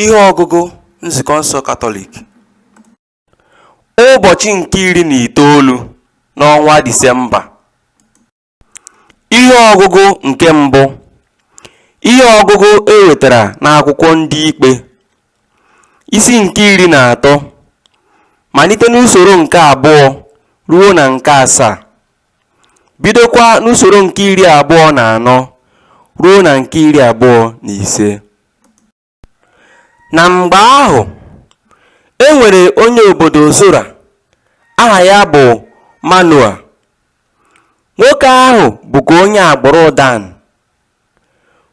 Ihe ọgụgụ Nzukọ nsọ Katọlik Ụbọchị nke iri na itoolu n'ọnwa Disemba Ihe ọgụgụ nke mbụ Ihe ọgụgụ e wetara n'akwụkwọ ndị ikpe isi nke iri na atọ malite n'usoro nke abụọ ruo na nke asaa bidokwa n'usoro nke iri abụọ na anọ ruo na nke iri abụọ na ise na mgbe ahụ e nwere onye obodo zora aha ya bụ manoa nwoke ahụ bụkwa onye agbụrụ dan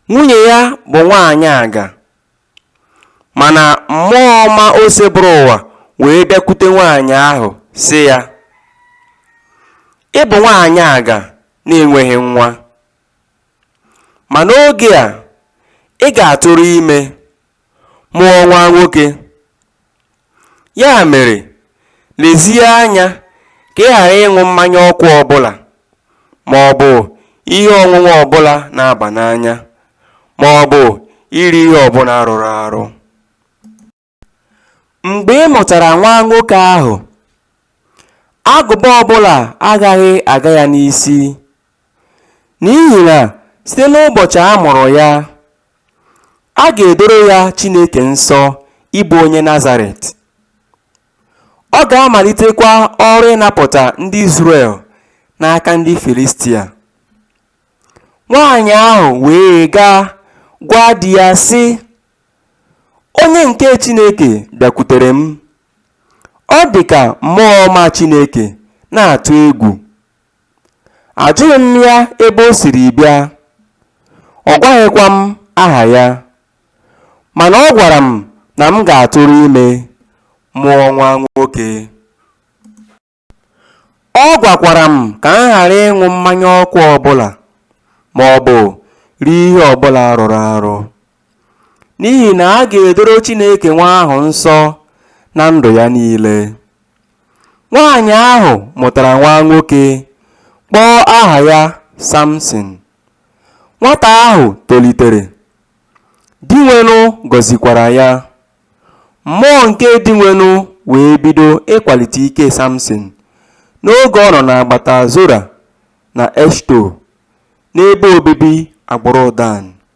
nwunye ya bụ nwaanyị aga Mana mmụọ ọma Osebụrụwa wee bịakwute nwaanyị ahụ sị ya, Ị bụ nwaanyị aga na-enweghị nwa. Ma n'oge a, ị ga-atụrụ ime, mụọ nwa nwoke. Ya mere, lezie anya ka ị ghara ịṅụ mmanya ọkụ ọ bụla ma ọ bụ ihe ọṅụṅụ ọ bụla na-aba n'anya ma ọ bụ iri ihe ọ bụla rụrụ arụ. Mgbe ị mụtara nwa nwoke ahụ, agụba ọ bụla agaghị aga ya n'isi N'ihi na site n'ụbọchị a mụrụ ya, a ga-edoro ya Chineke nsọ ịbụ onye Nazaret. Ọ ga-amalitekwa ọrụ ịnapụta ndị Izrel n'aka ndị Filistia. Nwaanyị ahụ wee gaa gwa di ya, sị, Onye nke Chineke bịakwutere m. Ọ dị ka mmụọ ọma Chineke na-atụ egwu. Ajụghị m ya ebe o siri bịa, ọ gwaghịkwa m aha ya. Mana ọ gwara m na m ga-atụrụ ime, mụọ nwa nwoke. Ọ gwakwara m ka m ghara ịṅụ mmanya ọkụ ọbụla maọbụ rie ihe ọbụla rụrụ arụ. n'ihi na a ga-edoro Chineke nwa ahụ nsọ na ndụ ya niile. Nwaanyị ahụ mụtara nwa nwoke, kpọọ aha ya Samson. Nwata ahụ tolitere, Dinwenụ gọzikwara ya. Mmụọ nke Dinwenụ wee bido ịkwalite ike Samson n'oge ọ nọ n'agbata Zora na Eshto n'ebe obibi agbụrụ Dan.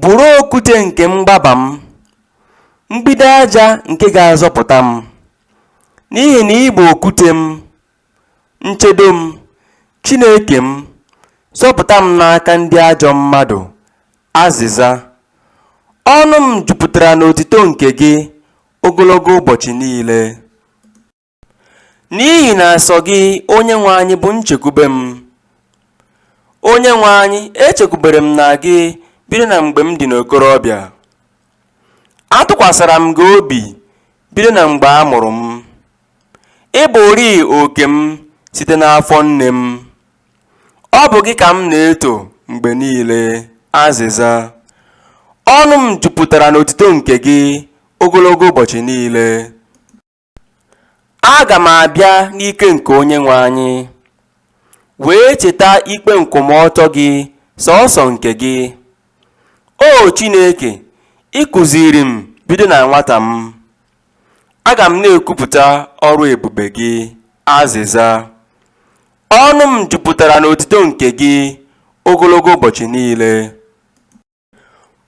Bụrụ okwute nke mgbaba m, mgbidi aja nke ga-azọpụta m, n'ihi na ị bụ okwute m, nchedo m, Chineke m, zọpụta m n'aka ndị ajọ mmadụ. Azịza, Ọnụ m jupụtara n'otito nke gị ogologo ụbọchị niile. N'ihi na sọ gị, Onyenwe anyị, bụ nchekwube m. Onyenwe anyị, echekwubere m na gị bido na mgbe m dị n'okorobịa. Atụkwasara m gị obi bido na mgbe a mụrụ m. Ị bụrịị oke m site n'afọ nne m. Ọ bụ gị ka m na-eto mgbe niile. Azịza. Ọnụ m jupụtara n'otito nke gị ogologo ụbọchị niile. Aga m abịa n'ike nke Onyenwe anyị, wee cheta ikpe nkwụmọtọ gị, sọọsọ nke gị. O Chineke, ị kụziiri m bido na nwata m. Aga m na-ekwupụta ọrụ ebube gị. Azịza. Ọnụ m jupụtara n'otito nke gị ogologo ụbọchị niile.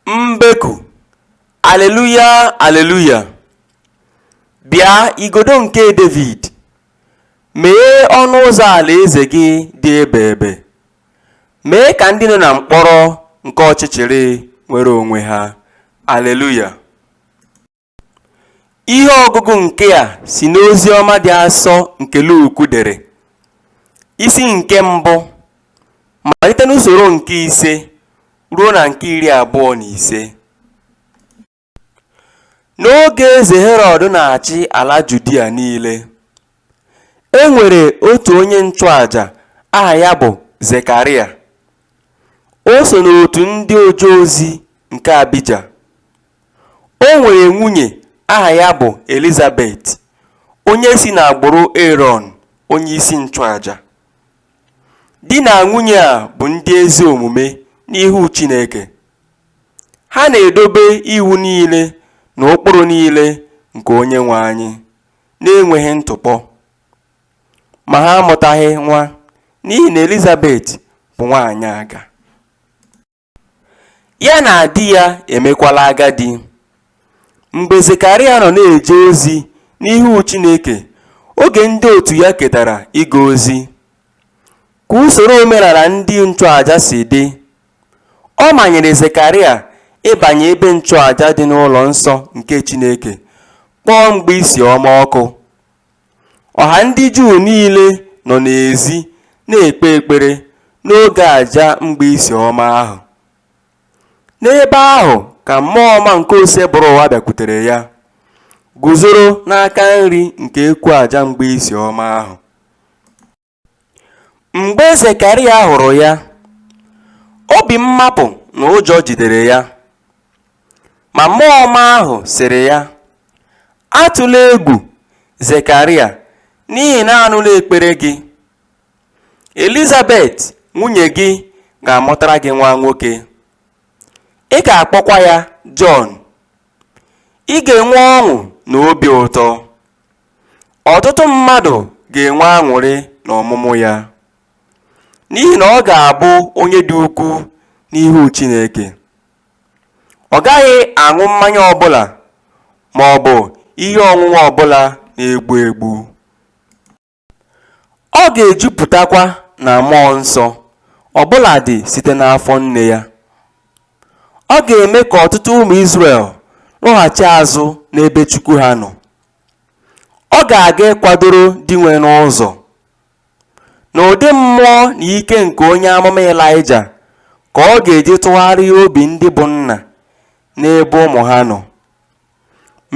Mbeku, Aleluya, aleluya! Bịa, igodo nke Devid, meghee ọnụ ụzọ alaeze gị dị ebeebe, mee ka ndị nọ na mkpọrọ nke ọchịchịrị nwere onwe ha. Aleluya! Ihe ọgụgụ nke a si n'Oziọma dị asọ nke Luk dere, isi nke mbụ, malite n'usoro nke ise ruo na nke iri abụọ na ise. N'oge eze Herọd na-achị ala Judia niile. E nwere otu onye nchụaja aha ya bụ Zekarịa. O so n'otu ndị oje ozi nke Abija. O nwere nwunye aha ya bụ Elizabet, onye si n'agbụrụ Erọn onye isi nchụaja. Di na nwunye a bụ ndị ezi omume n'ihu Chineke. Ha na-edobe iwu niile na ụkpụrụ niile nke Onyenwe anyị. na-enweghị ntụpọ, ma ha amụtaghị nwa n'ihi na Elizabet bụ nwaanyị aga. Ya na di ya emekwala agadi. Mgbe Zekarịa nọ na-eje ozi n'ihu Chineke oge ndị otu ya ketara ịga ozi, ka usoro omenala ndị nchụaja si dị, Ọ manyere Zekarịa ịbanye ebe nchụaja dị n'ụlọ nsọ nke Chineke, kpọọ mgbaisi ọma ọkụ. Ọha ndị Juu niile nọ n'ezi na-ekpe ekpere n'oge aja mgbaisi ọma ahụ. N'ebe ahụ ka mmụọ ọma nke Osebụrụwa bịakwutere ya, guzoro n'aka nri nke ekwu aja mgbaisi ọma ahụ. Mgbe Zekaraya hụrụ ya, obi mmapụ na ụjọ jidere ya. Ma Mmụọ Ọma ahụ sịrị ya, Atụla egwu, Zekaraya, n'ihi na a nụla ekpere gị. Elizabet nwunye gị ga-amụtara gị nwa nwoke. Ị ga-akpọkwa ya Jọn. Ị ga-enwe ọṅụ na obi ụtọ. Ọtụtụ mmadụ ga-enwe aṅụrị n'ọmụmụ ya, n'ihi na ọ ga-abụ onye dị ukwu n'ihu Chineke. Ọ gaghị aṅụ mmanya ọbụla ma ọ bụ ihe ọṅụṅụ ọbụla na-egbu egbu. Ọ ga-ejupụtakwa na mmụọ nsọ, ọbụladị site n'afọ nne ya. Ọ ga-eme ka ọtụtụ ụmụ Izrel lọghachi azụ n'ebe Chukwu ha nọ. Ọ ga-aga ịkwadoro Dinwenụ ụzọ. N'ụdị mmụọ na ike nke onye amụma Ịlaịja ka ọ ga-eji tụgharịa obi ndị bụ nna n'ebe ụmụ ha nọ,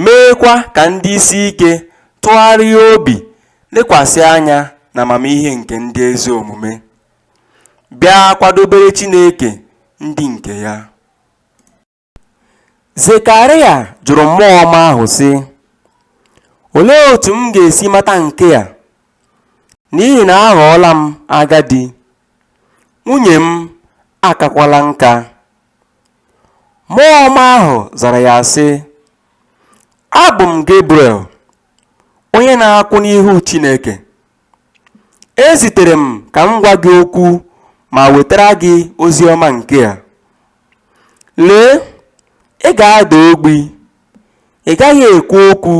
meekwa ka ndị isi ike tụgharịa obi lekwasị anya n'amamihe nke ndị ezi omume, bịa kwadobere Chineke ndị nke ya. Zekaraya jụrụ mmụọ ọma ahụ, sị, Olee otu m ga-esi mata nke a? N'ihi na aghọọla m agadi, nwunye m akakwala nka. Mmụọ ọma ahụ zara ya, sị, Abụ m Gebriel, onye na-akwụ n'ihu Chineke. E zitere m ka m gwa gị okwu ma wetara gị ozi ọma nke a. Lee, ị ga-ada ogbi, ị gaghị ekwu okwu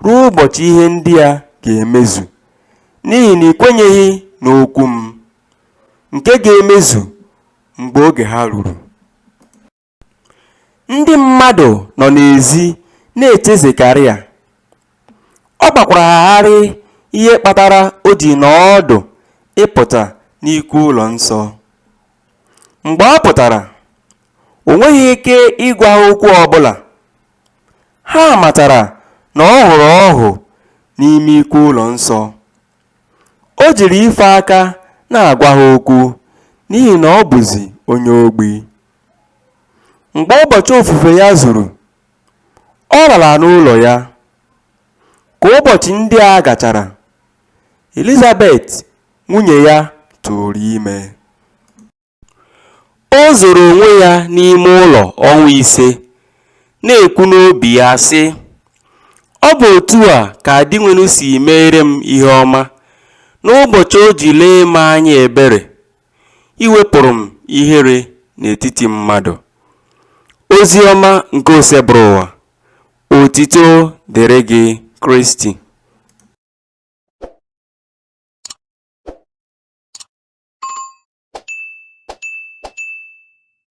ruo ụbọchị ihe ndị a ga-emezu, n'ihi na i kwenyeghị n'okwu m, nke ga-emezu mgbe oge ha ruru. Ndị mmadụ nọ n'ezi na-eche Zekaraya, ọ gbakwara ha gharịị ihe kpatara o ji nọọ ọdụ ịpụta n'ikwu ụlọ nsọ. Mgbe ọ pụtara, o nweghị ike ịgwa ha okwu ọ bụla. Ha matara na ọ hụrụ ọhụ n'ime ikwu ụlọ nsọ. O jiri ife aka na-agwa ha okwu n'ihi na ọ bụzi onye ogbi. Mgbe ụbọchị ofufe ya zuru, ọ lara n'ụlọ ya. Ka ụbọchị ndị a gachara, Elizabet nwunye ya tụụrụ ime. O zoro onwe ya n'ime ụlọ ọnwa ise, na-ekwu n'obi ya, sị, Ọ bụ otu a ka Dinwenụ si meere m ihe ọma n'ụbọchị o ji lee m anya ebere iwepụrụ m ihere n'etiti mmadụ. Ozi ọma nke Osebụrụwa, otito dịrị gị Kristi.